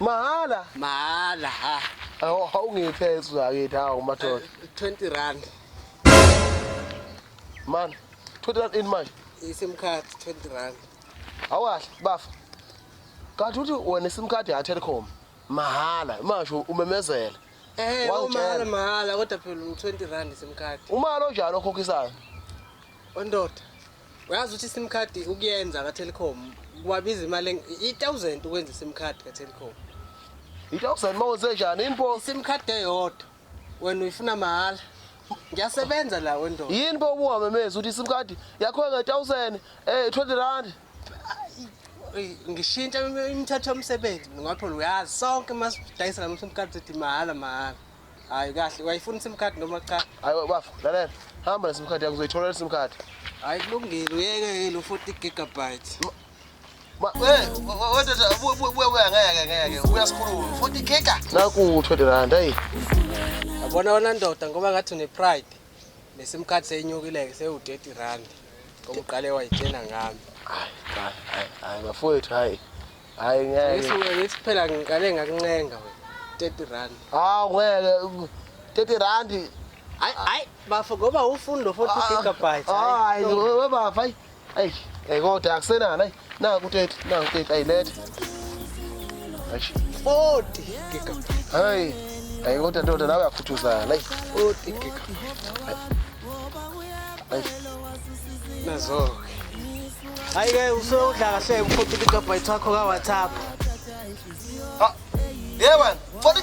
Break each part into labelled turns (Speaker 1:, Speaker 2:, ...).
Speaker 1: Mahhala. Mahhala
Speaker 2: ha.
Speaker 1: Awu awungiphe
Speaker 2: ezakithi hawu madoda. 20 eh, rand. Man, 20 rand in manje. ISIM card 20
Speaker 1: rand. Awahle
Speaker 2: bafa. Kanti uthi wena iSIM card ya Telkom mahhala masho umemezela. Eh, umahhala mahhala kodwa
Speaker 1: phela u20 rand iSIM card. Umalo njalo
Speaker 2: okhokhisayo.
Speaker 1: Ondoda. uyazi ukuthi isim card ukuyenza ka-telecom kubabiza imali i-thousand ukwenza isim card ka-telecom i-thousand
Speaker 2: uma wenze njani yini bo isim card eyodwa
Speaker 1: wena uyifuna mahhala ngiyasebenza la wendoda yini bo ubuhamemezi
Speaker 2: ukuthi isim card yakho nge-thousand um eh, twenty rand
Speaker 1: ngishintsha imithetho yomsebenzi ngoba phela uyazi sonke uma sidayisa la msim card sithi mahhala mahhala Hayi kahle, wayifuna iSIM card noma cha? Hayi bafo, lalela.
Speaker 2: Hamba neSIM card yakho uzoyithola iSIM card. Hayi kulungile,
Speaker 1: uyeke ke lo 40 gigabyte. Ma, eh, wedoda buya buya buya ngeke
Speaker 2: ngeke. Uyasikhuluma. 40 giga. Naku 20 rand hey. Yabona
Speaker 1: wena ndoda ngoba ngathi une pride. NeSIM card seyinyukile ke sewu 30 rand. Ngoba uqale wayitshena ngami. Hayi, hayi,
Speaker 2: hayi, hayi bafowethu hayi. Hayi ngeke. Yesu wena ithi phela ngiqale
Speaker 1: ngakuncenga wena. 30 rand. Hawu
Speaker 2: ngeke 30 rand. Hayi hayi
Speaker 1: bafo ngoba ufuni lo 40 ah, gigabytes. Hayi we
Speaker 2: bafo hayi. Hayi hey kodwa akusenani hayi. Naku 30 naku 30 ayilethe. Hayi
Speaker 1: 40 gigabytes. Hayi.
Speaker 2: Hayi kodwa ndoda nawe yakhuthuzana. Hayi 40
Speaker 1: gigabytes.
Speaker 2: Hayi. Nazo.
Speaker 1: Hayi ke usewudla kahle ukhotha igigabhayithi wakho ka WhatsApp. Ah,
Speaker 2: ye wena, foni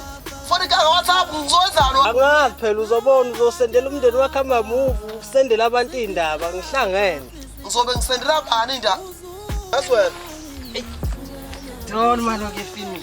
Speaker 2: foni ka WhatsApp ngizozalo. Angazi phela
Speaker 1: uzobona uzosendela umndeni wakhe ama move, usendela abantu indaba ngihlangene. Ngizobe ngisendela
Speaker 2: bani indaba? That's well.
Speaker 1: Don't man okay finish.